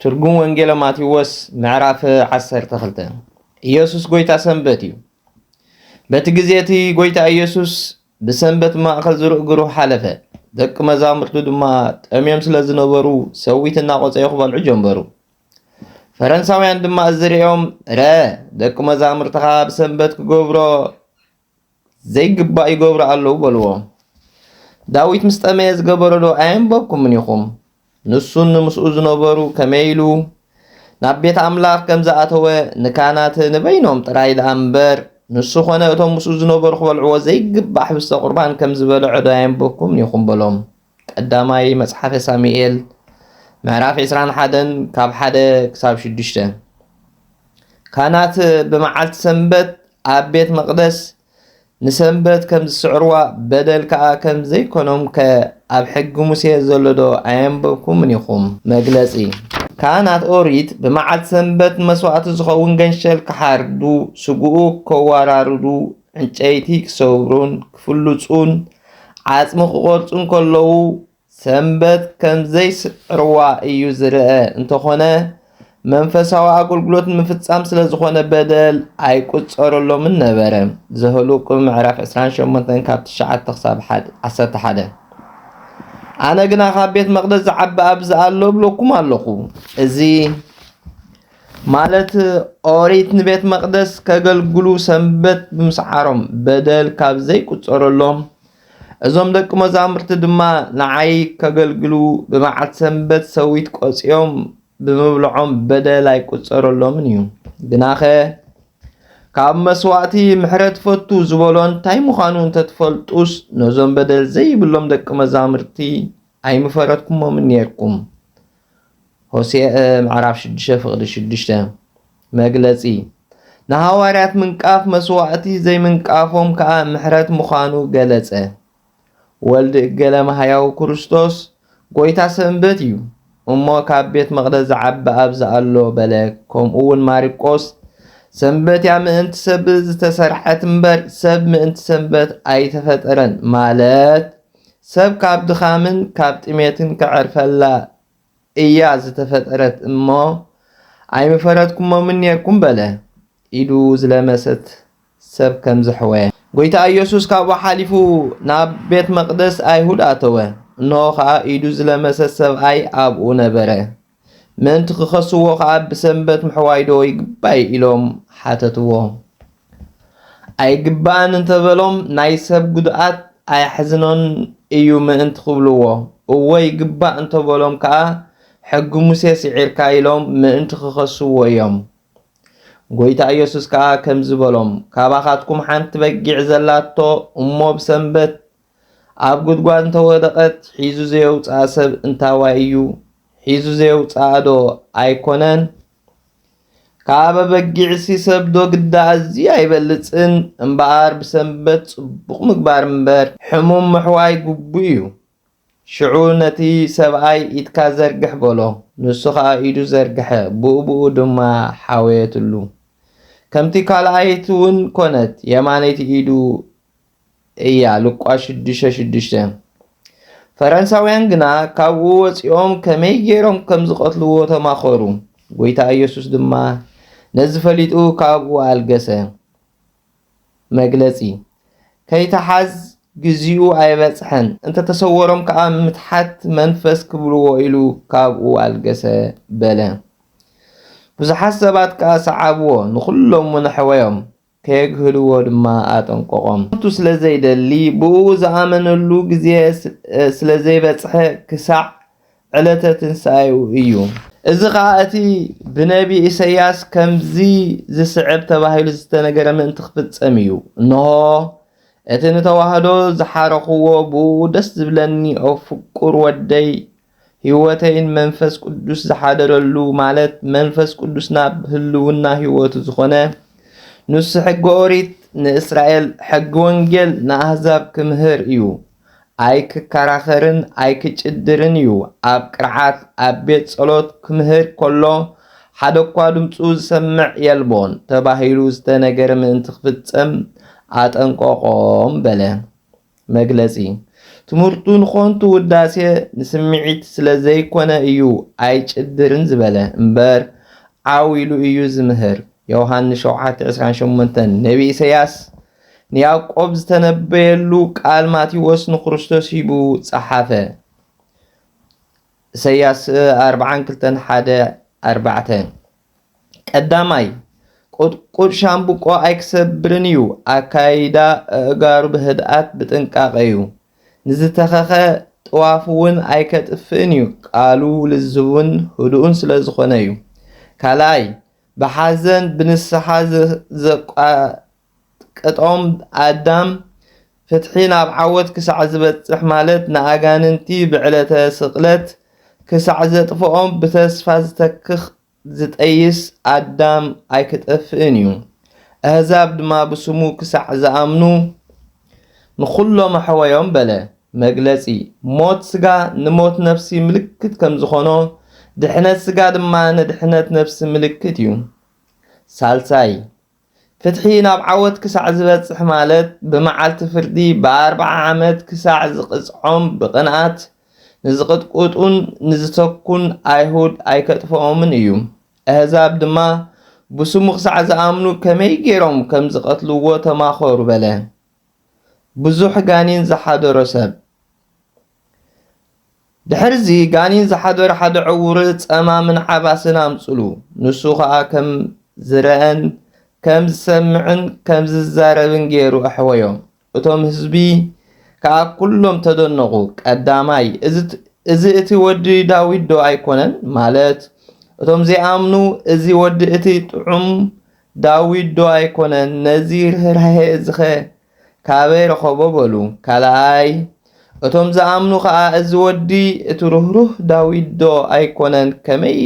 ትርጉም ወንጌለ ማቴዎስ ምዕራፍ ዓሰርተ ክልተ ኢየሱስ ጎይታ ሰንበት እዩ። በቲ ግዜ እቲ ጎይታ ኢየሱስ ብሰንበት ማእከል ዝርእግሩ ሓለፈ። ደቂ መዛሙርቱ ድማ ጠምዮም ስለ ዝነበሩ ሰዊት እናቆጸዩ ክበልዑ ጀመሩ። ፈረንሳውያን ድማ እዚ ርእዮም ረ ደቂ መዛሙርትኻ ብሰንበት ክገብሮ ዘይግባእ ይገብሩ ኣለዉ በልዎ። ዳዊት ምስ ጠመየ ዝገበረዶ ኣየንበብኩምን ኢኹም? ንሱን ንምስኡ ዝነበሩ ከመይ ኢሉ ናብ ቤት ኣምላኽ ከም ዝኣተወ ንካህናት ንበይኖም ጥራይ ደኣ እምበር ንሱ ዀነ እቶም ምስኡ ዝነበሩ ክበልዕዎ ዘይግባእ ሕብስተ ቍርባን ከም ዝበልዐዶ ኣየንበብኩምን ኢኹም? በሎም። ቀዳማይ መጽሓፈ ሳሙኤል ምዕራፍ ዕስራን ሓደን ካብ ሓደ ክሳብ ሽዱሽተ ካህናት ብመዓልቲ ሰንበት ኣብ ቤት መቕደስ ንሰንበት ከም ዝስዕርዋ በደል ከኣ ከም ዘይኮኖም ከ ኣብ ሕጊ ሙሴ ዘሎ ዶ ኣየንበብኩምን ኢኹም? መግለጺ ካህናት ኦሪት ብመዓልቲ ሰንበት መስዋእቲ ዝኸውን ገንሸል ክሓርዱ፣ ስግኡ ከወራርዱ፣ ዕንጨይቲ ክሰብሩን ክፍልጹን ዓጽሚ ክቖርጹን ከለዉ ሰንበት ከም ዘይስዕርዋ እዩ ዝርአ። እንተኾነ መንፈሳዊ ኣገልግሎት ንምፍጻም ስለ ዝኾነ በደል ኣይቁጸረሎምን ነበረ። ዘህልቁ ምዕራፍ 28 ካብ 9 ክሳብ 11 ኣነ ግና ካብ ቤት መቕደስ ዝዓቢ ኣብዚ ኣሎ እብለኩም ኣለኹ እዚ ማለት ኦሪት ንቤት መቅደስ ከገልግሉ ሰንበት ብምስዓሮም በደል ካብ ዘይቁጸረሎም እዞም ደቂ መዛሙርቲ ድማ ንዓይ ከገልግሉ ብመዓልቲ ሰንበት ሰዊት ቆጽዮም ብምብልዖም በደል ኣይቁጸረሎምን እዩ። ግናኸ ካብ መስዋእቲ ምሕረት ፈቱ ዝበሎ እንታይ ምዃኑ እንተትፈልጡስ ነዞም በደል ዘይብሎም ደቂ መዛሙርቲ ኣይምፈረትኩሞምን ኔርኩም። ሆሴእ ምዕራፍ ሽዱሽተ ፍቕዲ ሽዱሽተ መግለጺ ንሃዋርያት ምንቃፍ መስዋዕቲ ዘይምንቃፎም ከኣ ምሕረት ምዃኑ ገለጸ። ወልድ እገለ ማህያዊ ክርስቶስ ጎይታ ሰንበት እዩ እሞ ካብ ቤት መቕደስ ዝዓቢ ኣብዚ ኣሎ በለ። ከምኡ ውን ማርቆስ ሰንበት እያ ምእንቲ ሰብ ዝተሰርሐት እምበር ሰብ ምእንቲ ሰንበት ኣይተፈጠረን ማለት ሰብ ካብ ድኻምን ካብ ጥሜትን ከዕርፈላ እያ ዝተፈጠረት እሞ ኣይምፈረድኩሞምን ኔርኩም በለ ኢዱ ዝለመሰት ሰብ ከም ዘሕወ። ጐይታ ኢየሱስ ካብኡ ሓሊፉ ናብ ቤት መቕደስ ኣይሁድ ኣተወ፣ እንሆ ኸኣ ኢዱ ዝለመሰ ሰብኣይ ኣብኡ ነበረ። ምእንቲ ክኸስዎ ኸኣ ብሰንበት ምሕዋይዶ ይግባይ ኢሎም ሓተትዎ። ኣይግባእን እንተ በሎም ናይ ሰብ ጉድኣት ኣየሕዝኖን እዩ ምእንቲ ክብልዎ፣ እወ ይግባእ እንተ በሎም ከኣ ሕጊ ሙሴ ስዒርካ ኢሎም ምእንቲ ክኸስዎ እዮም። ጐይታ ኢየሱስ ከኣ ከምዚ በሎም፣ ካባኻትኩም ሓንቲ በጊዕ ዘላቶ እሞ ብሰንበት ኣብ ጉድጓድ እንተወደቐት ሒዙ ዘየውጽኣ ሰብ እንታዋይ እዩ? ሒዙ ዘየውጽኣዶ ኣይኮነን? ካብ ኣበጊዕሲ ሰብዶ ግዳ ኣዝዩ ኣይበልጽን? እምበኣር ብሰንበት ጽቡቕ ምግባር እምበር ሕሙም ምሕዋይ ግቡእ እዩ። ሽዑ ነቲ ሰብኣይ ኢድካ ዘርግሕ በሎ። ንሱ ኸኣ ኢዱ ዘርግሐ፣ ብኡብኡ ድማ ሓወየትሉ። ከምቲ ካልኣይትውን ኮነት፣ የማነይቲ ኢዱ እያ፣ ሉቃ ሽዱሽተ ሽዱሽተ። ፈረንሳውያን ግና ካብኡ ወጺኦም ከመይ ገይሮም ከም ዝቐትልዎ ተማኸሩ፣ ጐይታ ኢየሱስ ድማ ነዚ ፈሊጡ ካብኡ ኣልገሰ። መግለጺ ከይተሓዝ ግዚኡ ኣይበጽሐን፣ እንተ ተሰወሮም ከኣ ምትሓት መንፈስ ክብልዎ ኢሉ ካብኡ ኣልገሰ በለ። ብዙሓት ሰባት ከኣ ሰዓብዎ፣ ንኹሎምውን ኣሕወዮም። ከየግህድዎ ድማ ኣጠንቀቖም። ክሞቱ ስለ ዘይደሊ፣ ብእኡ ዝኣመነሉ ግዜ ስለ ዘይበጽሐ ክሳዕ ዕለተ ትንሳኤኡ እዩ። እዚ ኸኣ እቲ ብነብዪ ኢሳይያስ ከምዚ ዝስዕብ ተባሂሉ ዝተነገረ ምእንቲ ክፍጸም እዩ፣ እንሆ፣ እቲ ንተዋህዶ ዝሓረኽዎ ብእኡ ደስ ዝብለኒ እፍቁር ወደይ ሕይወተይን መንፈስ ቅዱስ ዝሓደረሉ ማለት መንፈስ ቅዱስ ናብ ህልውና ሕይወቱ ዝኾነ ንሱ ሕገ ኦሪት ንእስራኤል ሕጊ ወንጌል ንኣህዛብ ክምህር እዩ። ኣይክከራኸርን ኣይክጭድርን እዩ። ኣብ ቅርዓት ኣብ ቤት ጸሎት ክምህር ከሎ ሓደ እኳ ድምፁ ዝሰምዕ የልቦን ተባሂሉ ዝተነገረ ምእንቲ ክፍጸም ኣጠንቀቆም በለ። መግለጺ ትምህርቱ ንኮንቱ ውዳሴ ንስምዒት ስለ ዘይኮነ እዩ ኣይጭድርን ዝበለ እምበር ዓው ኢሉ እዩ ዝምህር ዮውሃንስ ሸውዓተ ዕስራን ሸሞንተን ነቢ ኢሰያስ ንያቆብ ዝተነበየሉ ቃል ማቴዎስ ንክርስቶስ ሂቡ ጸሓፈ ኢሰያስ ኣርብዓን ክልተን ሓደ ኣርባዕተ ቀዳማይ፣ ቁጥቁጥ ሻምብቆ ኣይክሰብርን እዩ፣ ኣካያይዳ ኣእጋሩ ብህድኣት ብጥንቃቐ እዩ፣ ንዝተኸኸ ጥዋፍ'ውን ኣይከጥፍእን እዩ፣ ቃሉ ልዝብን ህዱእን ስለ ዝኾነ እዩ። ካልኣይ፣ ብሓዘን ብንስሓ ቅጦም ኣዳም ፍትሒ ናብ ዓወት ክሳዕ ዝበጽሕ ማለት ንኣጋንንቲ ብዕለተ ስቅለት ክሳዕ ዘጥፍኦም ብተስፋ ዝተክኽ ዝጠይስ ኣዳም ኣይክጠፍእን እዩ ኣህዛብ ድማ ብስሙ ክሳዕ ዝኣምኑ ንኹሎም ኣሕወዮም በለ መግለጺ ሞት ስጋ ንሞት ነፍሲ ምልክት ከም ዝኾኖ ድሕነት ስጋ ድማ ንድሕነት ነፍሲ ምልክት እዩ ሳልሳይ ፍትሒ ናብ ዓወት ክሳዕ ዝበጽሕ ማለት ብመዓልቲ ፍርዲ ብኣርብዓ ዓመት ክሳዕ ዝቕጽዖም ብቕንኣት ንዝቕጥቁጡን ንዝተኩን ኣይሁድ ኣይከጥፍኦምን እዩ ኣህዛብ ድማ ብስሙ ክሳዕ ዝኣምኑ ከመይ ጌሮም ከም ዝቐትልዎ ተማኸሩ በለ ብዙሕ ጋኒን ዝሓደሮ ሰብ ድሕርዚ ጋኒን ዝሓደሮ ሓደ ዕዉር ጸማምን ዓባስን ኣምጽሉ። ንሱ ኸኣ ከም ዝረኣን ከም ዝሰምዕን ከም ዝዛረብን ገይሩ ኣሕወዮ። እቶም ህዝቢ ከኣ ኩሎም ተደነቑ። ቀዳማይ፣ እዚ እቲ ወዲ ዳዊትዶ ኣይኮነን? ማለት እቶም ዘይኣምኑ እዚ ወዲ እቲ ጥዑም ዳዊትዶ ኣይኮነን? ነዚ ርህራሄ እዚኸ ካበይ ረኸቦ በሉ። ካልኣይ እቶም ዝኣምኑ ኸኣ እዚ ወዲ እቲ ርህሩህ ዳዊት ዶ ኣይኮነን ከመይ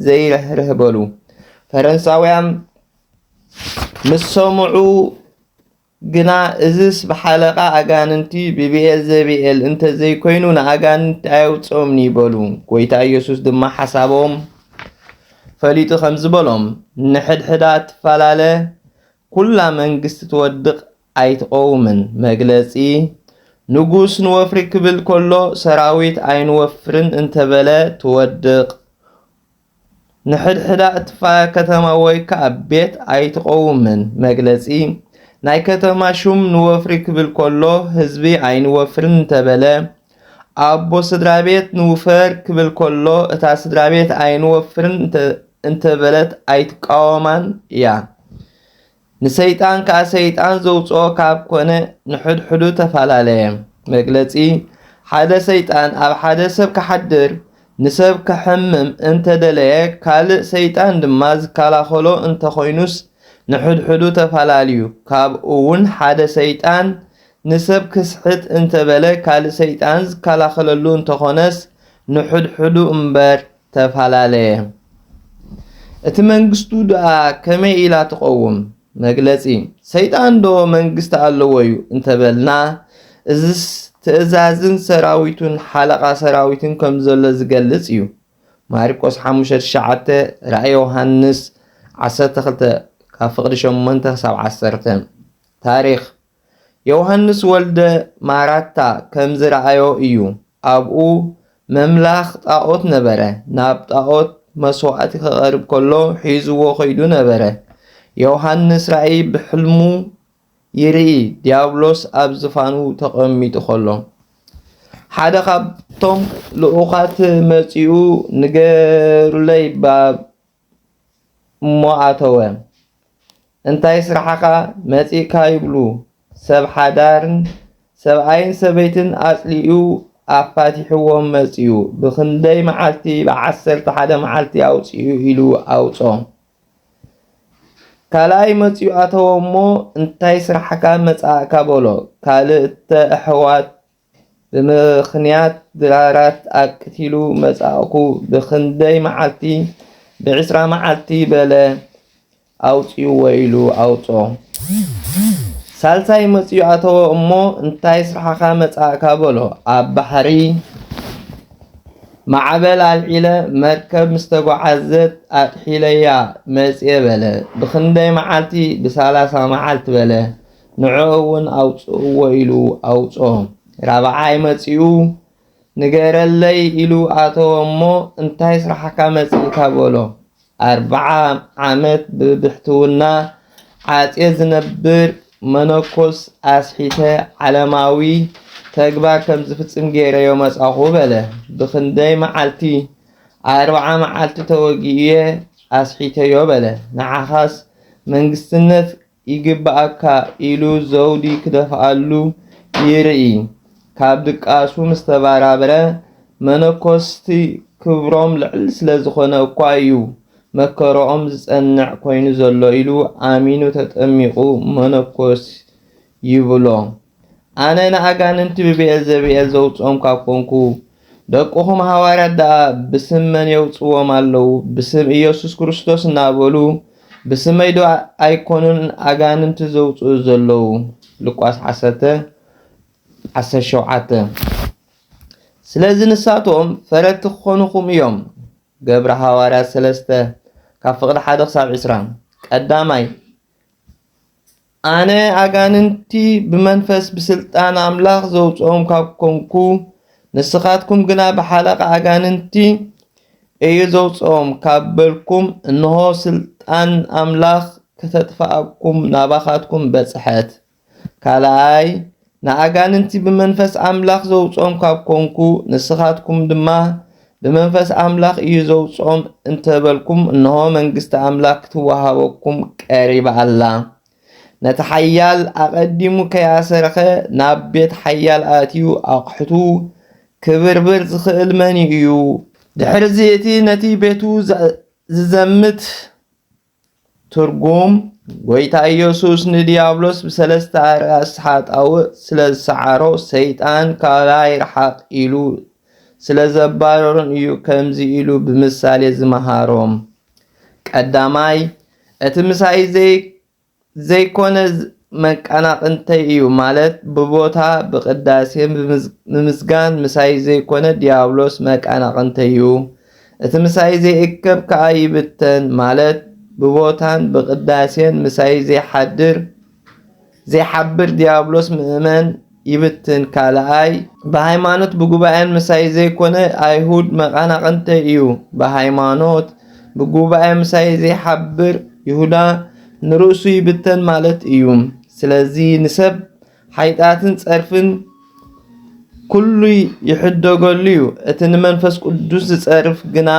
ዘይርህርህ በሉ። ፈረንሳውያን ምስ ሰምዑ ግና እዝስ ብሓለቓ ኣጋንንቲ ብብኤል ዘብኤል እንተ ዘይኮይኑ ንኣጋንንቲ ኣየውፅኦምኒ በሉ። ጎይታ ኢየሱስ ድማ ሓሳቦም ፈሊጡ ከምዚ በሎም፣ ንሕድሕዳ ትፈላለ ኩላ መንግስቲ ትወድቅ ኣይትቆውምን መግለጺ ንጉስ ንወፍሪ ክብል ከሎ ሰራዊት ኣይንወፍርን እንተበለ ትወድቅ ንሕድሕዳ እትፋ ከተማ ወይ ክኣ ቤት ኣይትቆውምን መግለጺ ናይ ከተማ ሹም ንወፍሪ ክብል ከሎ ህዝቢ ኣይንወፍርን እንተበለ ኣቦ ስድራቤት ንውፈር ክብል ከሎ እታ ስድራቤት ኣይንወፍርን እንተበለት ኣይትቃወማን እያ። ንሰይጣን ከኣ ሰይጣን ዘውጽኦ ካብ ኮነ ንሕድሕዱ ተፈላለየ። መግለጺ ሓደ ሰይጣን ኣብ ሓደ ሰብ ክሓድር ንሰብ ከሕምም እንተደለየ ካልእ ሰይጣን ድማ ዝከላኸሎ እንተኾይኑስ ንሕድሕዱ ተፈላልዩ። ካብኡውን ሓደ ሰይጣን ንሰብ ክስሕት እንተበለ ካልእ ሰይጣን ዝከላኸለሉ እንተኾነስ ንሕድሕዱ እምበር ተፈላለየ። እቲ መንግስቱ ድኣ ከመይ ኢላ ትቐውም? መግለጺ ሰይጣን ዶ መንግስቲ ኣለዎ'ዩ እንተበልና እዝስ ትእዛዝን ሰራዊቱን ሓለቓ ሰራዊትን ከም ዘሎ ዝገልጽ እዩ። ማርቆስ ሓሙሽተ ትሽዓተ ራእይ ዮሃንስ ዓሰርተ ክልተ ካብ ፍቕዲ ሸሞንተ ክሳብ ዓሰርተ ታሪኽ የውሃንስ ወልደ ማራታ ከም ዝረኣዮ እዩ ኣብኡ መምላኽ ጣኦት ነበረ ናብ ጣኦት መስዋእቲ ከቐርብ ከሎ ሒዝዎ ከይዱ ነበረ የውሃንስ ራእይ ብሕልሙ ይርኢ ድያብሎስ ኣብ ዝፋኑ ተቐሚጡ ከሎ ሓደ ካብቶም ልኡኻት መጺኡ ንገሩለይ እሞ ኣተወ እንታይ ስራሕኻ መጺእካ ይብሉ ሰብ ሓዳርን ሰብኣይን ሰበይትን ኣጽሊኡ ኣፋቲሕዎም መጺኡ ብኽንደይ መዓልቲ ብዓሰርተ ሓደ መዓልቲ ኣውጽኡ ኢሉ ኣውጾ ካልኣይ መጺኡ ኣተወ እሞ እንታይ ስራሕካ መጻእካ በሎ ካልእተ ኣሕዋት ብምኽንያት ድራራት ኣቅቲሉ መጻእኩ ብኽንደይ መዓልቲ ብዕስራ መዓልቲ በለ ኣውጽእዎ ኢሉ ኣውጽኦ ሳልሳይ መጽዩ ኣተወ እሞ እንታይ ስራሕኻ መጻእካ በሎ ኣብ ባሕሪ ማዕበል ኣልዒለ መርከብ ምስ ተጓዓዘት ኣጥሒለያ መጽየ በለ ብኽንደይ መዓልቲ ብሳላሳ መዓልቲ በለ ንዕኡ እውን ኣውጽእዎ ኢሉ ኣውጾ። ራብዓይ መጺኡ ንገረለይ ኢሉ ኣተወ እሞ እንታይ ስራሕካ መጺእካ በሎ። ኣርብዓ ዓመት ብብሕትውና ዓጼ ዝነብር መነኮስ ኣስሒተ ዓለማዊ ተግባር ከም ዝፍጽም ገይረዮ መጻኹ በለ። ብኽንደይ መዓልቲ? ኣርብዓ መዓልቲ ተወጊኡየ ኣስሒተዮ በለ። ንዓኻስ መንግስትነት ይግበኣካ ኢሉ ዘውዲ ክደፍኣሉ ይርኢ። ካብ ድቃሱ ምስ ተበራበረ፣ መነኮስቲ ክብሮም ልዕል ስለ ዝኾነ እኳ እዩ መከረኦም ዝጸንዕ ኮይኑ ዘሎ ኢሉ ኣሚኑ ተጠሚቑ መነኮስ ይብሎ። ኣነ ንኣጋንንቲ ብብኤልዘብኤል ዘውጽኦም ካብ ኮንኩ፣ ደቅኹም ሃዋርያት ደኣ ብስም መን የውጽዎም ኣለዉ? ብስም ኢየሱስ ክርስቶስ እናበሉ ብስመይ ዶ ኣይኮኑን ኣጋንንቲ ዘውጽኡ ዘለዉ? ሉቃስ ዓሰርተ ዓሰርተ ሸውዓተ ስለዚ ንሳቶም ፈረድቲ ክኾኑኹም እዮም። ገብረ ሃዋርያት ሰለስተ ካብ ፍቕዲ ሓደ ክሳብ ዕስራ ቀዳማይ ኣነ ኣጋንንቲ ብመንፈስ ብስልጣን ኣምላኽ ዘውጽኦም ካብ ኮንኩ፣ ንስኻትኩም ግና ብሓለቓ ኣጋንንቲ እዩ ዘውጽኦም ካብ በልኩም፣ እንሆ ስልጣን ኣምላኽ ከተጥፍኣኩም ናባኻትኩም በጽሐት። ካልኣይ ንኣጋንንቲ ብመንፈስ ኣምላኽ ዘውጽኦም ካብ ኰንኩ፣ ንስኻትኩም ድማ ብመንፈስ ኣምላኽ እዩ ዘውጽኦም እንተ በልኩም፣ እንሆ፣ መንግስቲ ኣምላኽ ክትወሃበኩም ቀሪባ ኣላ። ነቲ ሓያል ኣቐዲሙ ከይኣሰረኸ ናብ ቤት ሓያል ኣእትዩ ኣቕሑቱ ክብርብር ዝኽእል መን እዩ? ድሕርዚ እቲ ነቲ ቤቱ ዚዘምት ትርጉም ጎይታ ኢየሱስ ንዲያብሎስ ብሰለስተ ኣርኣስ ሓጣውእ ስለ ዝሰዓሮ ሰይጣን ካባይ ርሓቕ ኢሉ ስለ ዘባረሮን እዩ ከምዚ ኢሉ ብምሳሌ ዝመሃሮም። ቀዳማይ እቲ ምሳይ ዘይ ዘይኮነ መቃናቅንተይ እዩ ማለት ብቦታ ብቅዳሴ ምምስጋን ምሳይ ዘይኮነ ድያብሎስ መቃናቅንተይ'ዩ እቲ ምሳይ ዘይእከብ ከኣ ይብተን ማለት ብቦታን ብቅዳሴን ምሳይ ዘይሓድር ዘይሓብር ድያብሎስ ምእመን ይብትን ካልኣይ ብሃይማኖት ብጉባኤን ምሳይ ዘይኮነ ኣይሁድ መቃናቅንተይ እዩ ብሃይማኖት ብጉባኤ ምሳይ ዘይሓብር ይሁዳ ንርእሱ ይብተን ማለት እዩ ስለዚ ንሰብ ሓይጣትን ጸርፍን ኩሉ ይሕደገሉ እዩ እቲ ንመንፈስ ቅዱስ ዝጸርፍ ግና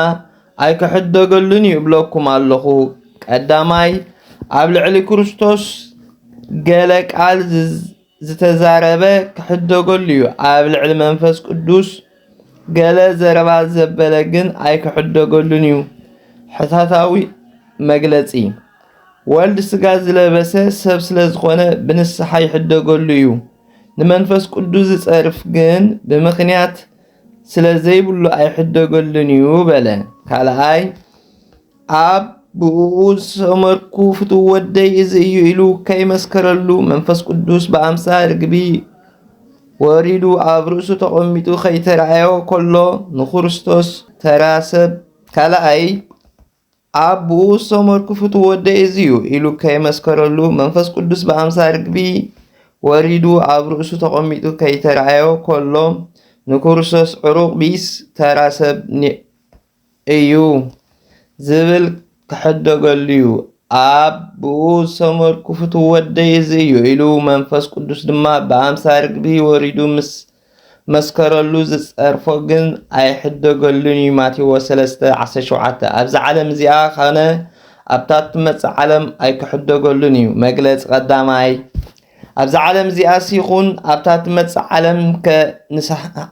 ኣይክሕደገሉን እዩ እብለኩም ኣለኹ ቀዳማይ ኣብ ልዕሊ ክርስቶስ ገለ ቃል ዝተዛረበ ክሕደገሉ እዩ ኣብ ልዕሊ መንፈስ ቅዱስ ገለ ዘረባ ዘበለ ግን ኣይክሕደገሉን እዩ ሕታታዊ መግለጺ ወልድ ስጋ ዝለበሰ ሰብ ስለ ዝኾነ ብንስሓ ይሕደገሉ እዩ ንመንፈስ ቅዱስ ዝጸርፍ ግን ብምኽንያት ስለ ዘይብሉ ኣይሕደገሉን እዩ በለ ካልኣይ ኣብ ብእኡ ዝሰመርኩ ፍትው ወደይ እዚ እዩ ኢሉ ከይመስከረሉ መንፈስ ቅዱስ ብኣምሳ ርግቢ ወሪዱ ኣብ ርእሱ ተቐሚጡ ከይተረኣዮ ከሎ ንክርስቶስ ተራ ሰብ ካልኣይ ኣብ ብኡ ዝተመርኩ ፍቱ ወደ እዚዩ ኢሉ ከይመስከረሉ መንፈስ ቅዱስ ብኣምሳ ርግቢ ወሪዱ ኣብ ርእሱ ተቐሚጡ ከይተረኣዮ ከሎ ንክርስቶስ ዕሩቕ ቢስ ተራ ሰብ እዩ ዝብል ክሕደገሉ'ዩ። ኣብ ብኡ ዝተመርኩ ፍቱው ወደይ እዚ እዩ ኢሉ መንፈስ ቅዱስ ድማ ብኣምሳ ርግቢ ወሪዱ ምስ መስከረሉ ዝጸርፎ ግን ኣይሕደገሉን እዩ ማቴዎስ ሰለስተ ዓሰርተ ሸውዓተ ኣብዛ ዓለም እዚኣ ኸነ ኣብታ እትመጽእ ዓለም ኣይክሕደገሉን እዩ መግለጺ ቀዳማይ ኣብዚ ዓለም እዚኣስ ይኹን ኣብታ ትመጽእ ዓለም ከ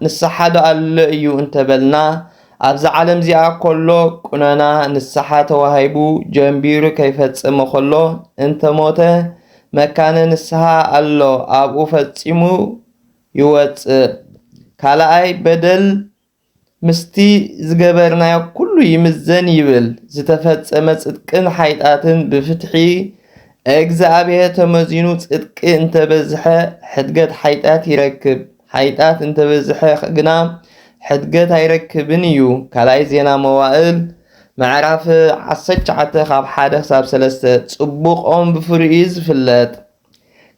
ንስሓዶ ኣሎ እዩ እንተበልና ኣብዛ ዓለም'ዚኣ ኮሎ ቁነና ንስሓ ተዋሂቡ ጀምቢሩ ከይፈጸመ ኮሎ እንተ ሞተ መካነ ንስሃ ኣሎ ኣብኡ ፈጺሙ ይወጽእ። ካልኣይ በደል ምስቲ ዝገበርናዮ ኩሉ ይምዘን ይብል ዝተፈጸመ ጽድቅን ሓይጣትን ብፍትሒ እግዝኣብሄር ተመዚኑ ጽድቂ እንተ በዝሐ ሕድገት ሓይጣት ይረክብ። ሓይጣት እንተበዝሐ ግና ሕድገት ኣይረክብን እዩ። ካልኣይ ዜና መዋእል ምዕራፍ ዓሰርተ ትሽዓተ ካብ ሓደ ክሳብ ሰለስተ ጽቡቕ ኦም ብፍሪኡ እዩ ዝፍለጥ።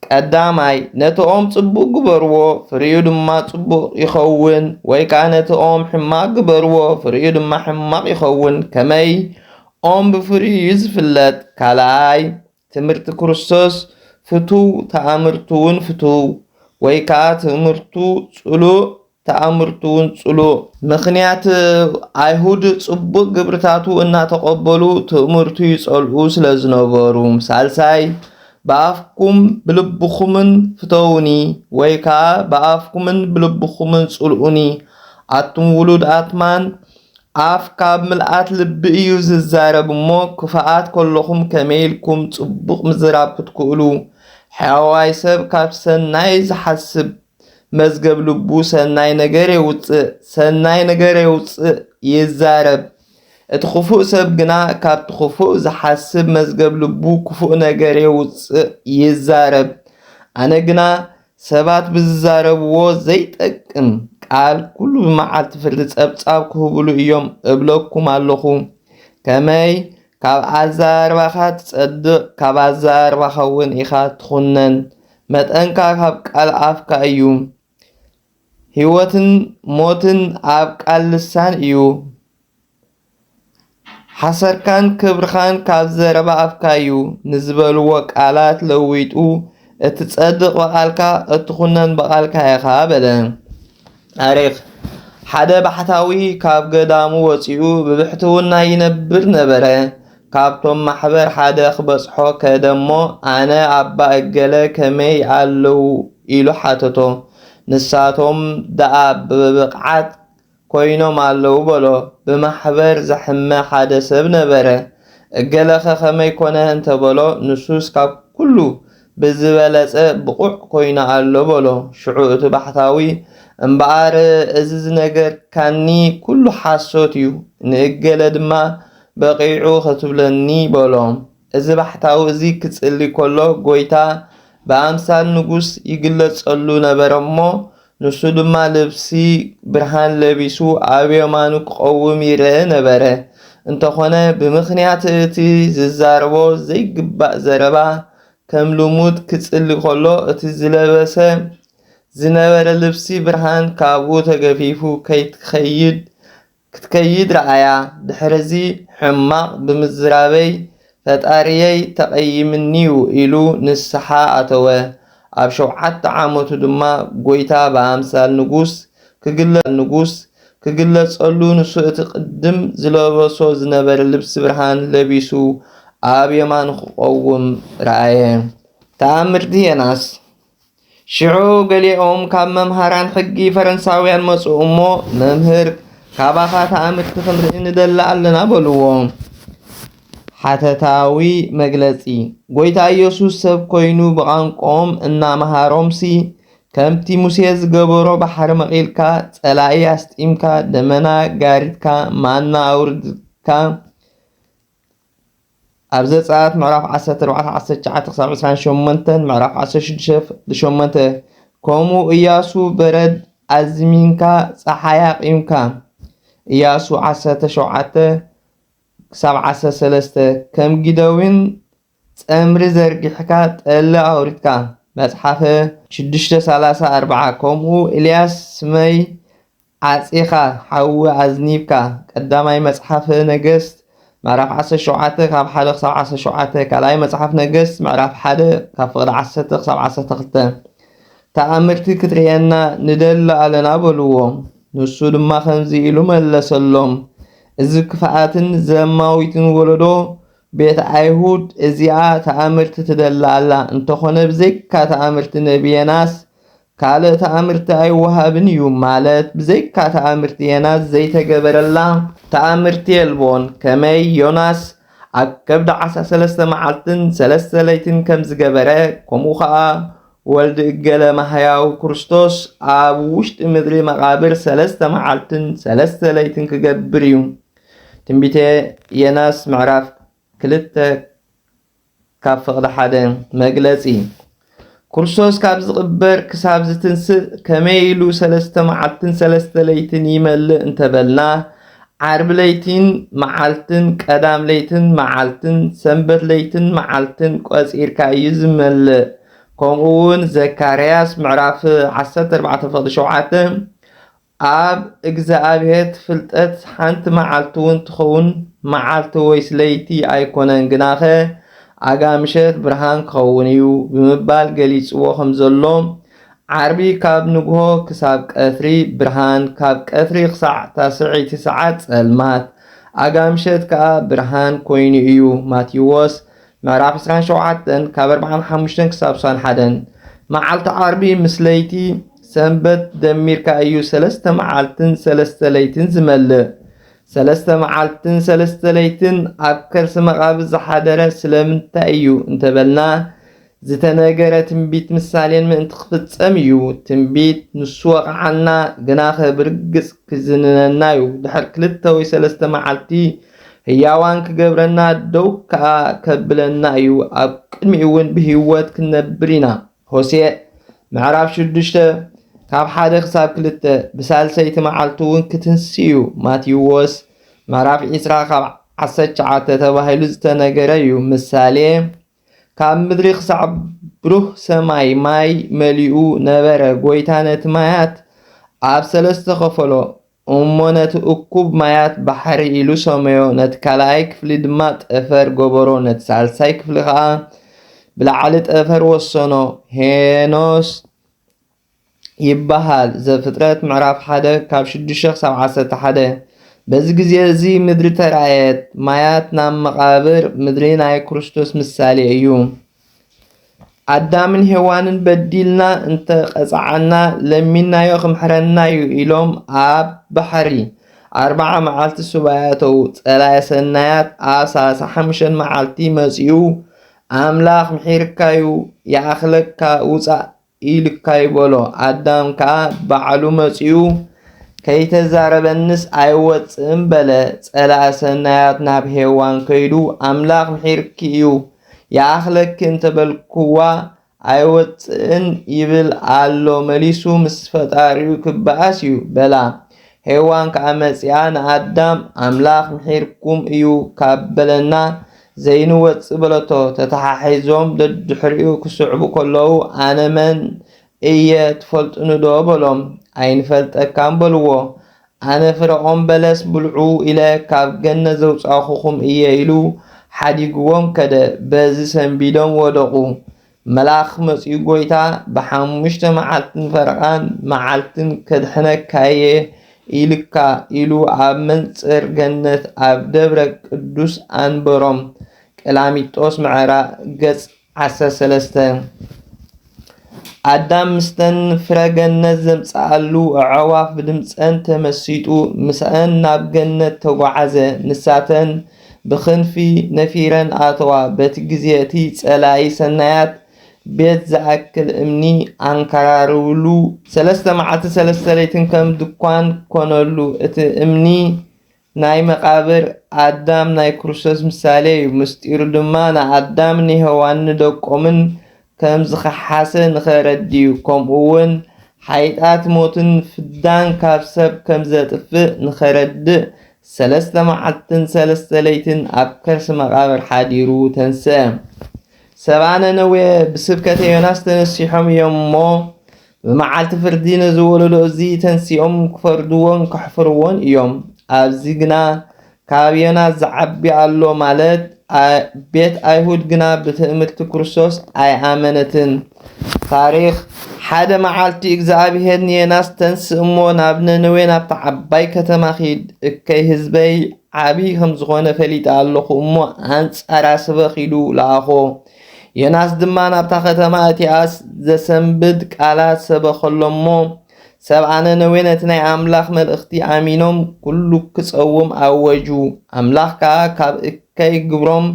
ቀዳማይ ነቲ ኦም ጽቡቕ ግበርዎ ፍሪኡ ድማ ጽቡቕ ይኸውን፣ ወይ ከኣ ነቲ ኦም ሕማቕ ግበርዎ ፍሪኡ ድማ ሕማቕ ይኸውን። ከመይ? ኦም ብፍሪኡ እዩ ዝፍለጥ። ካልኣይ ትምህርቲ ክርስቶስ ፍቱው ተኣምርቱውን ፍቱው ወይ ከኣ ትምህርቱ ጽሉእ ተኣምርቱውን ጽሉእ። ምኽንያት ኣይሁድ ጽቡቕ ግብርታቱ እናተቐበሉ ትእምርቱ ይጸልኡ ስለ ዝነበሩ። ሳልሳይ ብኣፍኩም ብልብኹምን ፍተዉኒ ወይ ከኣ ብኣፍኩምን ብልብኹምን ጽልኡኒ ኣቱም ውሉድ ኣትማን ኣፍ ካብ ምልኣት ልቢ እዩ ዝዛረብ እሞ ክፋኣት ከለኹም ከመይ ኢልኩም ጽቡቕ ምዝራብ ክትክእሉ ሕያዋይ ሰብ ካብ ሰናይ ዝሓስብ መዝገብ ልቡ ሰናይ ነገር የውጽእ ሰናይ ነገር የውጽእ ይዛረብ እቲ ክፉእ ሰብ ግና ካብቲ ክፉእ ዝሓስብ መዝገብ ልቡ ክፉእ ነገር የውጽእ ይዛረብ ኣነ ግና ሰባት ብዝዛረብዎ ዘይጠቅም ቃል ኩሉ መዓልቲ ፍርዲ ጸብጻብ ክህብሉ እዮም እብለኩም ኣለኹ። ከመይ ካብ ኣዘራርባኻ ትጸድቕ ካብ ኣዘራርባኻ እውን ኢኻ ትኹነን። መጠንካ ካብ ቃል ኣፍካ እዩ። ህይወትን ሞትን ኣብ ቃል ልሳን እዩ። ሓሰርካን ክብርኻን ካብ ዘረባ ኣፍካ'ዩ ንዝበልዎ ቃላት ለዊጡ፣ እትጸድቕ ብቓልካ፣ እትኹነን ብቓልካ ኢኻ በለ። ታሪኽ ሓደ ባሕታዊ ካብ ገዳሙ ወጺኡ ብብሕትውና ይነብር ነበረ። ካብቶም ማሕበር ሓደ ክበጽሖ ከደ'ሞ ኣነ ኣባ እገለ ከመይ ኣለዉ ኢሉ ሓተቶ። ንሳቶም ደኣ ብብቕዓት ኮይኖም ኣለዉ በሎ ብማሕበር ዘሐመ ሓደ ሰብ ነበረ እገለኸ ከመይ ኮነ እንተ በሎ ንሱስ ካብ ኩሉ ብዝበለጸ ብቑዕ ኮይኑ ኣሎ በሎ ሽዑ እቲ ባሕታዊ እምበኣር እዚ ዝነገርካኒ ኩሉ ሓሶት እዩ ንእገለ ድማ በቒዑ ክትብለኒ በሎ እዚ ባሕታዊ እዚ ኪጽሊ ከሎ ጐይታ ብኣምሳል ንጉስ ይግለጸሉ ነበረ እሞ፣ ንሱ ድማ ልብሲ ብርሃን ለቢሱ ኣብ የማኑ ኪቐውም ይርኤ ነበረ። እንተኾነ ብምኽንያት እቲ ዚዛረቦ ዘይግባእ ዘረባ ከም ልሙድ ኪጽሊ ከሎ እቲ ዝለበሰ ዝነበረ ልብሲ ብርሃን ካብኡ ተገፊፉ ከይትከይድ ክትከይድ ረኣያ ድሕሪዚ ሕማቅ ብምዝራበይ ፈጣሪየይ ተቀይምኒዩ ኢሉ ንስሓ ኣተወ ኣብ ሸውዓተ ዓመቱ ድማ ጎይታ ብኣምሳል ንጉስ ክግለጸሉ ክግለጸሉ ንሱ እቲ ቅድም ዝለበሶ ዝነበረ ልብሲ ብርሃን ለቢሱ ኣብ የማኑ ክቆውም ረኣየ ተኣምርቲ የናስ ሽዑ ገሊኦም ካብ መምሃራን ሕጊ ፈረንሳውያን መጹ እሞ፣ መምህር ካባኻ ተኣምርቲ ክንርኢ ንደሊ ኣለና በልዎ። ሓተታዊ መግለጺ ጎይታ ኢየሱስ ሰብ ኮይኑ ብቛንቋኦም እናመሃሮምሲ ከምቲ ሙሴ ዝገበሮ ባሕሪ መቒልካ፣ ጸላኢ ኣስጢምካ፣ ደመና ጋሪትካ፣ ማና ኣውርድካ፣ ኣብ ዘጸኣት ምዕራፍ ዓሰርተ ኣርባዕተ ዓሰርተ ትሽዓተ ክሳብ ዕስራን ሸሞንተን ምዕራፍ ዓሰርተ ሽዱሽተ ሸሞንተ ከምኡ እያሱ በረድ ኣዝሚንካ ጸሓይ ኣቚምካ እያሱ ዓሰርተ ሸውዓተ ክሳብ ዓሰርተ ሰለስተ ከም ጊደዊን ጸምሪ ዘርጊሕካ ጠሊ ኣውሪድካ መጽሓፈ ሽዱሽተ ሰላሳ ኣርብዓ ከምኡ ኤልያስ ስመይ ዓጺኻ ሓዊ ኣዝኒብካ ቀዳማይ መጽሓፈ ነገስት ምዕራፍ ዓሰርተ ሸውዓተ ካብ ሓደ ክሳብ ዓሰርተ ሸውዓተ ካልኣይ መጽሓፍ ነገስት ምዕራፍ ሓደ ካብ ፍቕዲ ዓሰርተ ክሳብ ዓሰርተ ክልተ ተኣምርቲ ክትርእየና ንደሊ ኣለና በልዎ ንሱ ድማ ከምዚ ኢሉ መለሰሎም እዚ ክፍኣትን ዘማዊትን ወለዶ ቤት ኣይሁድ እዚኣ ተኣምርቲ ትደሊ ኣላ እንተኾነ ብዘይካ ተኣምርቲ ነቢ የናስ ካልእ ተኣምርቲ ኣይወሃብን እዩ ማለት ብዘይካ ተኣምርቲ ዬናስ ዘይተገበረላ ተኣምርቲ የልቦን ከመይ ዮናስ ኣብ ከብዲ ዓሳ ሰለስተ መዓልትን ሰለስተ ለይትን ከምዝገበረ ከምኡ ከኣ ወልድ እገለ ማህያው ክርስቶስ ኣብ ውሽጢ ምድሪ መቃብር ሰለስተ መዓልትን ሰለስተ ለይትን ክገብር እዩ ትንቢተ ዬናስ ምዕራፍ ክልተ ካብ ፍቕዲ ሓደ መግለጺ ኩርሶስ ካብ ዝቕበር ክሳብ ዝትንስእ ከመይ ኢሉ ሰለስተ መዓልትን ሰለስተ ለይትን ይመልእ እንተበልና ዓርቢ ለይቲን መዓልትን ቀዳም ለይትን መዓልትን ሰንበት ለይትን መዓልትን ቆጺርካ እዩ ዝመልእ ከምኡ እውን ዘካርያስ ምዕራፍ ዓሰርተ ኣርባዕተ ፍቕዲ ሸውዓተ ኣብ እግዝኣብሄት ፍልጠት ሓንቲ መዓልቲውን ትኸውን መዓልቲ ወይስ ለይቲ ኣይኮነን ግናኸ ኣጋ ምሸት ብርሃን ክኸውን እዩ ብምባል ገሊጽዎ ከምዘሎ ዓርቢ ካብ ንግሆ ክሳብ ቀትሪ ብርሃን ካብ ቀትሪ ክሳዕ ታስዕይቲ ሰዓት ጸልማት ኣጋ ምሸት ከኣ ብርሃን ኮይኑ እዩ ማቴዎስ ምዕራፍ ዕስራን ሸውዓተን ካብ ኣርብዓን ሓሙሽተን ክሳብ ሳን ሓደን መዓልቲ ዓርቢ ምስ ለይቲ ሰንበት ደሚርካ እዩ ሰለስተ መዓልትን ሰለስተ ለይትን ዝመልእ። ሰለስተ መዓልትን ሰለስተ ለይትን ኣብ ከርሲ መቓብር ዝሓደረ ስለምንታይ እዩ እንተበልና ዝተነገረ ትንቢት ምሳሌን ምእንቲ ክፍጸም እዩ። ትንቢት ንሱ ወቕዓና፣ ግናኸ ብርግጽ ክዝንነና እዩ። ድሕሪ ክልተ ወይ ሰለስተ መዓልቲ ህያዋን ክገብረና ደው ከኣ ከብለና እዩ ኣብ ቅድሚኡውን ብህይወት ክንነብር ኢና ሆሴዕ ምዕራፍ ሽዱሽተ ካብ ሓደ ክሳብ ክልተ ብሳልሰይቲ መዓልቲ እውን ክትንስ እዩ ማቴዎስ ምዕራፍ ዒስራ ካብ ዓሰርተ ትሽዓተ ተባሂሉ ዝተነገረ እዩ ምሳሌ ካብ ምድሪ ኽሳዕ ብሩህ ሰማይ ማይ መሊኡ ነበረ፣ ጐይታ ነቲ ማያት ኣብ ሰለስተ ኸፈሎ፣ እሞ ነቲ እኩብ ማያት ባሕሪ ኢሉ ሰመዮ፣ ነቲ ካልኣይ ክፍሊ ድማ ጠፈር ገበሮ፣ ነቲ ሳልሳይ ክፍሊ ኸኣ ብላዕሊ ጠፈር ወሰኖ። ሄኖስ። ይበሃል፣ ዘፍጥረት ምዕራፍ ሓደ ካብ ሽዱሽተ ክሳብ ዓሰርተ ሓደ። በዚ ግዜ እዚ ምድሪ ተራእየት፣ ማያት ናብ መቓብር ምድሪ ናይ ክርስቶስ ምሳሌ እዩ። ኣዳምን ሄዋንን በዲልና እንተ ቀጽዓና ለሚናዮ ክምሕረና እዩ ኢሎም ኣብ ባሕሪ ኣርባዓ መዓልቲ ሱባኤ ኣተዉ። ጸላኢ ሰናያት ኣብ ሰላሳ ሓሙሽተን መዓልቲ መጺኡ ኣምላኽ ምሒርካዩ ይኣኽለካ ውጻእ ኢልካይ በሎ ኣዳም ከኣ ባዕሉ መጺኡ ከይተዛረበኒስ ኣይወጽእን በለ ጸላኢ ሰናያት ናብ ሄዋን ከይዱ ኣምላኽ ምሒርኪ እዩ ይኣኽለኪ እንተበልክዋ ኣይወጽእን ይብል ኣሎ መሊሱ ምስ ፈጣሪኡ ክበኣስ እዩ በላ ሄዋን ከኣ መጺኣ ንኣዳም ኣምላኽ ምሒርኩም እዩ ካብ በለና ዘይንወጽእ በለቶ ተተሓሒዞም ደድሕሪኡ ክስዕቡ ከለዉ ኣነ መን እየ ትፈልጡኒዶ በሎም ኣይንፈልጠካን በልዎ ኣነ ፍረኦም በለስ ብልዑ ኢለ ካብ ገነት ዘውጻእኹኹም እየ ኢሉ ሓዲግዎም ከደ በዚ ሰንቢዶም ወደቑ መልኣኽ መጺኡ ጐይታ ብሓሙሽተ መዓልትን ፈረቓን መዓልትን ከድሕነካየ ኢልካ ኢሉ ኣብ መንጽር ገነት ኣብ ደብረ ቅዱስ ኣንበሮም። ቀላሚጦስ ምዕራ ገጽ ዓሰርተ ሰለስተ። ኣዳም ምስተን ፍረ ገነት ዘምጽኣሉ ኣዕዋፍ ብድምጸን ተመሲጡ ምስኣን ናብ ገነት ተጓዓዘ። ንሳተን ብክንፊ ነፊረን ኣተዋ፣ በቲ ግዜ እቲ ጸላኢ ሰናያት ቤት ዝኣክል እምኒ ኣንከራርብሉ፣ ሰለስተ መዓልትን ሰለስተ ለይትን ከም ድኳን ኮነሉ፣ እቲ እምኒ ናይ መቓብር ኣዳም ናይ ክርስቶስ ምሳሌ እዩ፣ ምስጢሩ ድማ ንኣዳምን ንሄዋንን ንደቆምን ከም ዝኸሓሰ ንኸረድዩ ከምኡውን ሓይጣት ሞትን ፍዳን ካብ ሰብ ከም ዘጥፍእ ንኸረድእ ሰለስተ መዓልትን ሰለስተ ለይትን ኣብ ከርሲ መቓብር ሓዲሩ ተንስአ። ሰብኣ ነነዌ ብስብከተ ዮናስ ተነሲሖም እዮም እሞ፣ ብመዓልቲ ፍርዲ ነዚ ወለዶ እዚ ተንሲኦም ክፈርድዎን ከሕፍርዎን እዮም። ኣብዚ ግና ካብ ዮናስ ዝዓቢ ኣሎ ማለት ቤት ኣይሁድ ግና ብትእምርቲ ክርስቶስ ኣይኣመነትን። ታሪኽ ሓደ መዓልቲ እግዚኣብሄር ንዮናስ ተንስ እሞ ናብ ነነዌ ናብታ ዓባይ ከተማ ኺድ እከይ ህዝበይ ዓብዪ ከም ዝኾነ ፈሊጠ ኣለኹ እሞ ኣንጻራ ስበኽ ኢሉ ለኣኾ። ዮናስ ድማ ናብታ ኸተማ እቲኣስ ዘሰንብድ ቃላት ሰበኸሎም እሞ፣ ሰብኣ ነነዌ ነቲ ናይ ኣምላኽ መልእኽቲ ኣሚኖም ኵሉ ክጸውም ኣወጁ። ኣምላኽ ከኣ ካብ እከይ ግብሮም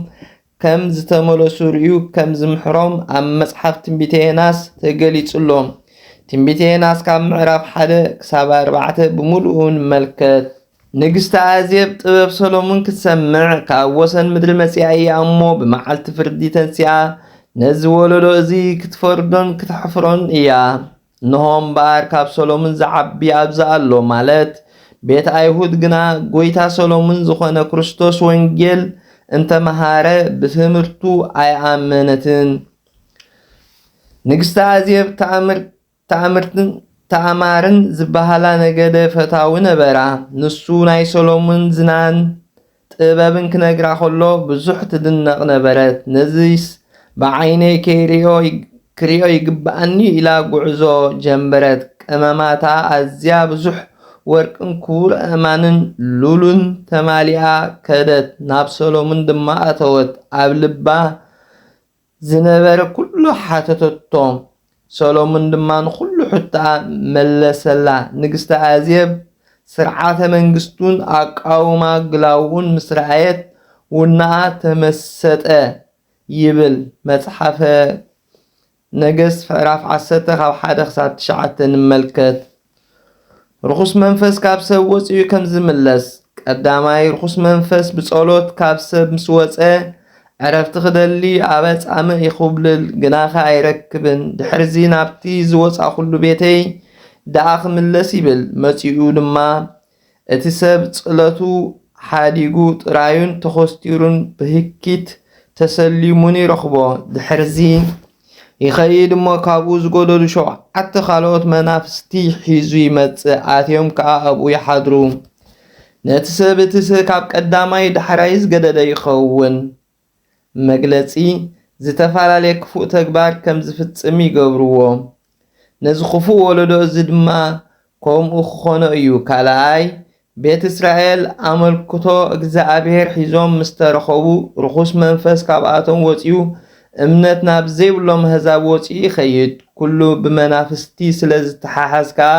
ከም ዝተመለሱ ርእዩ ከም ዝምሕሮም ኣብ መጽሓፍ ትንቢተ ዮናስ ተገሊጹ ኣሎ። ትንቢተ ዮናስ ካብ ምዕራፍ ሓደ ክሳብ ኣርባዕተ ብምሉኡ ንመልከት። ንግስቲ ኣዜብ ጥበብ ሰሎሙን ክትሰምዕ ካብ ወሰን ምድሪ መጺኣ እያ እሞ ብመዓልቲ ፍርዲ ተንሲኣ ነዚ ወለዶ እዚ ክትፈርዶን ክተሕፍሮን እያ። እንሆ እምበኣር ካብ ሰሎሙን ዝዓቢ ኣብዚ ኣሎ ማለት ቤት ኣይሁድ ግና ጐይታ ሰሎሙን ዝኾነ ክርስቶስ ወንጌል እንተ መሃረ ብትምህርቱ ኣይኣመነትን። ንግስቲ ኣዜብ ተኣምር ትእምርትን ትእማርን ዝበሃላ ነገደ ፈታዊ ነበራ። ንሱ ናይ ሰሎሙን ዝናን ጥበብን ክነግራ ከሎ ብዙሕ ትድነቕ ነበረት። ነዚስ ብዓይነይ ከይሪኦ ክሪኦ ይግብኣኒ'ዩ ኢላ ጉዕዞ ጀምብረት። ቀመማታ ኣዝያ ብዙሕ ወርቅን ክቡር ኣእማንን ሉሉን ተማሊኣ ከደት። ናብ ሰሎሙን ድማ ኣተወት። ኣብ ልባ ዝነበረ ኩሉ ሓተተቶም። ሰሎሙን ድማ ንኹሉ ሕቶኣ መለሰላ። ንግስቲ ኣዜብ ስርዓተ መንግስቱን ኣቃውማ ግላዉኡን ምስ ረኣየት ውናኣ ተመሰጠ ይብል መጽሓፈ ነገስት ምዕራፍ ዓሰርተ ካብ ሓደ ክሳብ ትሽዓተ ንመልከት። ርኹስ መንፈስ ካብ ሰብ ወጺኡ ከም ዝምለስ፣ ቀዳማይ ርኹስ መንፈስ ብጸሎት ካብ ሰብ ምስ ወጸ ዕረፍቲ ክደሊ ኣብ ኣጻምእ ይኹብልል፣ ግናኸ ኣይረክብን፣ ድሕርዚ ናብቲ ዝወጻኹሉ ቤተይ ደኣ ክምለስ ይብል፣ መጺኡ ድማ እቲ ሰብ ጽለቱ ሓዲጉ ጥራዩን ተኾስቲሩን ብህኪት ተሰሊሙን ይረኽቦ። ድሕርዚ ይኸይድ እሞ ካብኡ ዝጎደሉ ሸውዓተ ካልኦት መናፍስቲ ሒዙ ይመጽእ፣ ኣትዮም ከኣ ኣብኡ ይሓድሩ። ነቲ ሰብ እቲ ካብ ቀዳማይ ዳሕራይ ዝገደደ ይኸውን። መግለጺ ዝተፈላለየ ክፉእ ተግባር ከም ዝፍጽም ይገብርዎ። ነዚ ክፉእ ወለዶ እዚ ድማ ከምኡ ክኾኖ እዩ፣ ካልኣይ፣ ቤት እስራኤል ኣመልክቶ እግዝኣብሄር ሒዞም ምስ ተረኸቡ ርኹስ መንፈስ ካብኣቶም ወጺኡ እምነት ናብ ዘይብሎም ኣህዛብ ወጺኡ ይኸይድ፣ ኩሉ ብመናፍስቲ ስለ ዝተሓሓዝ ከኣ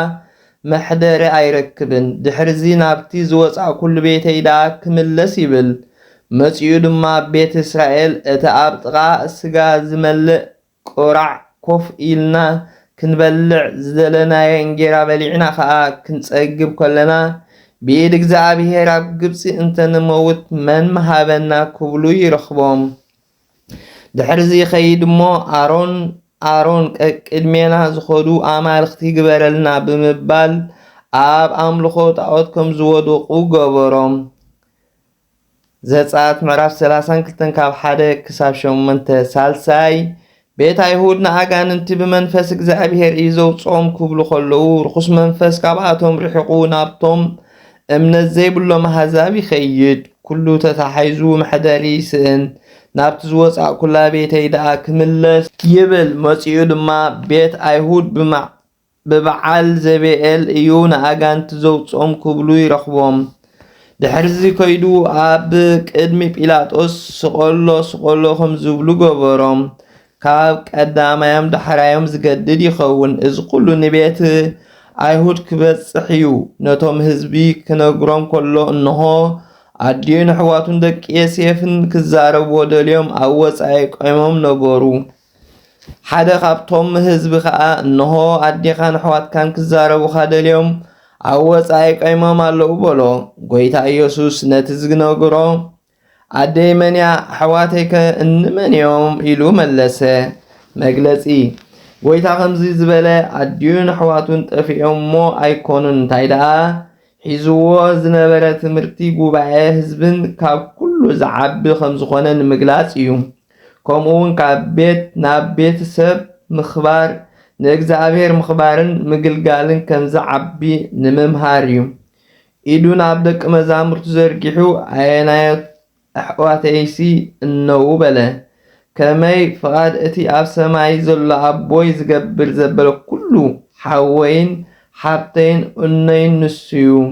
መሕደሪ ኣይረክብን። ድሕርዚ ናብቲ ዝወጻእኩሉ ቤተይ ደኣ ክምለስ ይብል። መጺኡ ድማ ኣብ ቤት እስራኤል እቲ ኣብ ጥቓ ስጋ ዝመልእ ቁራዕ ኮፍ ኢልና ክንበልዕ ዝደለናዮ እንጌራ በሊዕና ኸኣ ክንጸግብ ከሎና፣ ብኢድ እግዚኣብሄር ኣብ ግብጺ እንተ ንመውት መን ምሃበና ክብሉ ይረኽቦም። ድሕርዚ ይኸይድ እሞ ኣሮን ኣሮን ቀቅድሜና ዝኸዱ ኣማልኽቲ ግበረልና ብምባል ኣብ ኣምልኾ ጣዖት ከም ዝወደቑ ገበሮም። ዘጸኣት ምዕራፍ 32 ካብ 1 ክሳብ 8 ሳልሳይ ቤት ኣይሁድ ንኣጋንንቲ ብመንፈስ እግዚኣብሄር እዩ ዘውጽኦም ክብሉ ከለዉ ርኹስ መንፈስ ካብኣቶም ርሒቑ ናብቶም እምነት ዘይብሎም ኣህዛብ ይኸይድ፣ ኩሉ ተታሒዙ መሕደሪ ይስእን፣ ናብቲ ዝወጻእኩላ ቤተይ ደኣ ክምለስ። ይብል፣ መጺኡ ድማ ቤት ኣይሁድ ብበዓል ዘቤኤል እዩ ንኣጋንንቲ ዘውጽኦም ክብሉ ይረኽቦም። ድሕርዚ ከይዱ ኣብ ቅድሚ ጲላጦስ ስቐሎ ስቐሎ ከም ዝብሉ ገበሮም። ካብ ቀዳማዮም ዳሕራዮም ዝገድድ ይኸውን። እዚ ኩሉ ንቤት ኣይሁድ ክበጽሕ እዩ። ነቶም ህዝቢ ክነግሮም ከሎ እንሆ ኣዲኡን ኣሕዋቱን ደቂ የሴፍን ክዛረብዎ ደልዮም ኣብ ወጻኢ ቆይሞም ነበሩ። ሓደ ካብቶም ህዝቢ ከኣ እንሆ ኣዴኻን ኣሕዋትካን ክዛረቡኻ ደልዮም ኣብ ወጻኢ ቀይሞም ኣለዉ በሎ። ጐይታ ኢየሱስ ነቲ ዝነግሮ ኣደይ መንያ ኣሕዋተይከ እንመን እዮም ኢሉ መለሰ። መግለጺ ጐይታ ከምዚ ዝበለ ኣዲኡን ኣሕዋቱን ጠፊኦም እሞ ኣይኮኑን እንታይ ደኣ ሒዝዎ ዝነበረ ትምህርቲ ጉባኤ ህዝብን ካብ ኩሉ ዝዓቢ ከም ዝኾነ ንምግላጽ እዩ። ከምኡውን ካብ ቤት ናብ ቤት ሰብ ምኽባር ንእግዚኣብሔር ምኽባርን ምግልጋልን ከም ዝዓቢ ንምምሃር እዩ። ኢዱ ናብ ደቂ መዛሙርቱ ዘርጊሑ ኣየናዮት ኣሕዋተይሲ እነዉ በለ። ከመይ ፍቓድ እቲ ኣብ ሰማይ ዘሎ ኣቦይ ዝገብር ዘበለ ኩሉ ሓወይን ሓብተይን እኖይን ንሱዩ።